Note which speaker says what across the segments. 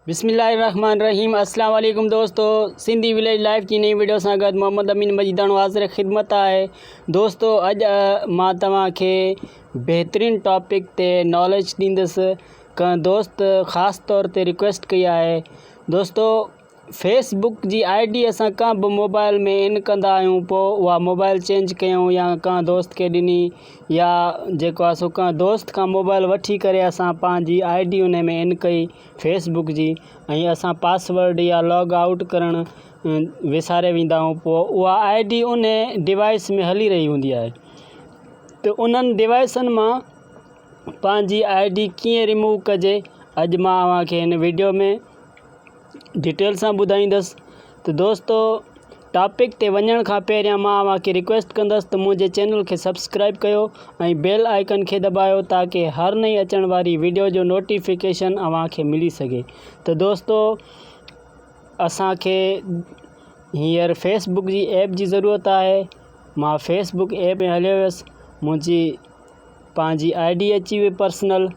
Speaker 1: بسم الله الرحمن الرحيم اسلام عليڪم دوستو سنڌي ويليج لائف جي نئين ويڊيو سان گڏ محمد امين مجيداڻو حاضر خدمت آهي دوستو اڄ مان توهان کي بهترين ٽاپڪ تي ناليج ڏيندس ڪنهن دوست خاص طور تي ريڪويسٽ ڪئي آهي دوستو فيس بڪ جي آئي ڊي اسان ڪنهن به موبائل ۾ ان ڪندا آهيون پوء اها موبائل چينج ڪيون يا ڪنهن دوست کي ڏني يا جيڪو آ سو ڪنهن دوست کان موبائل وٺي ڪري اسان پنهنجي آئي ڊي ان ۾ ان ڪئي فيس بڪ جي ۽ اسان پاس ورڊ يا لاگ آئوٽ ڪرڻ وساري ويندا آهيون پوء اها آئي ڊي ان ڊوائس ۾ هلي رهي هوندي آهي ته انهن ڊوائسن مان پنهنجي آئي ڊي ڪيئن ريموو ڪجي اڄ مان اوهان کي هن ويڊيو ۾ ڊيٽيل سان ٻڌائيندس ته دوستو ٽاپڪ تي وڃڻ کان پهريان مان اوهان کي ريڪويسٽ ڪندس ته منهنجي چينل کي سبسڪرائيب ڪيو ۽ بيل آئيڪن کي دٻايو تاڪه هر نئين اچڻ واري ويڊيو جو نوٽيفڪيشن اوهان کي ملي سگهي ته دوستو اسان کي هينئر فيس بڪ جي ايپ جي ضرورت آهي مان فيس بڪ ايپ ۾ هليو ويس منهنجي پنهنجي آئي ڊي اچي وئي پرسنل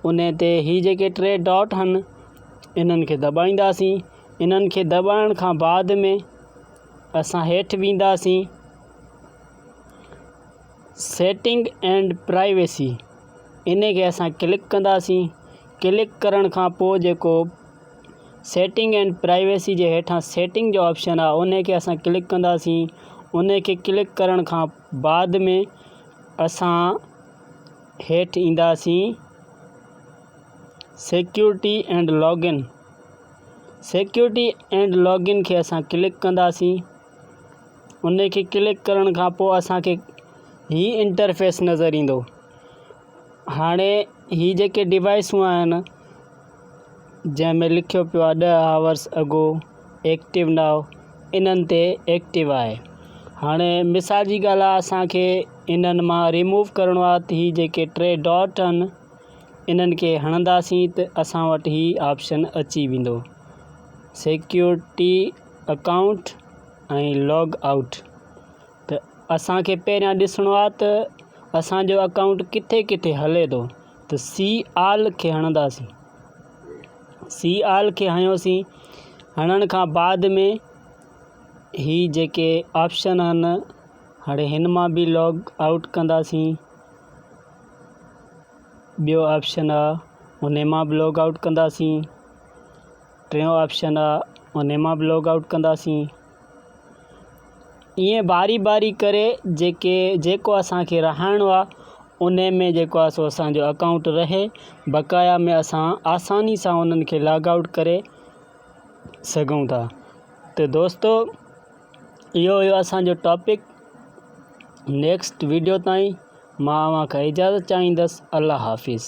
Speaker 1: ان تي هي جيڪي ٽي ڊاٽ آهن انهن کي دٻائينداسين انهن کي دٻائڻ کان بعد ۾ اسان هيٺ وينداسين Setting and Privacy ان کي اسان ڪلڪ ڪنداسين ڪلڪ ڪرڻ کان پوء جيڪو Setting and Privacy جي هيٺان Setting جو آپشن آهي ان کي اسان ڪلڪ ڪنداسين ان کي ڪلڪ ڪرڻ کان بعد ۾ اسان هيٺ اينداسين Security and Login security and login کي اسان ڪلڪ ڪنداسين ان کي ڪلڪ ڪرڻ کان پوء اسانکي هي انٽرفيس نظر ايندو هاڻي هي جيڪي ڊوائسون آهن جنهن ۾ لکيو پيو آهي ڏهه آورس اگو ايڪٽو ناء انهن تي ايڪٽو آهي هاڻي مثال جي ڳالهه آهي اسانکي انهن مان ريموو ڪرڻو آهي ته هي جيڪي ٽي ڊاٽ آهن انهن کي هڻنداسين ته اسان وٽ هي آپشن اچي ويندو سيڪيورٽي اڪائونٽ ۽ لاگ آئوٽ ته اسان کي پهريان ڏسڻو آهي ته اسانجو اڪائونٽ ڪٿي ڪٿي هلي ٿو ته سي آل کي هڻنداسين سي آل کي هنيوسين هڻڻ کان بعد ۾ هي جيڪي آپشن آهن هاڻي هن مان بي لاگ آئوٽ ڪنداسين ٻيو آپشن آ ان مان به لوگ آوٽ ڪنداسين ٽيون آپشن آ ان مان به لوگ آوٽ ڪنداسين ائين باري باري ڪري جيڪي جيڪو اسانکي رهائڻو آ ان ۾ جيڪو آ سو اسانجو اڪائونٽ رهي بقايا ۾ اسان آساني سان انهن کي لاگ آوٽ ڪري سگهون ٿا ته دوستو اهو هيو اسان جو ٽاپڪ نيڪسٽ ويڊيو تائين مان اوهان کان اجازت چاهيندس الله حافظ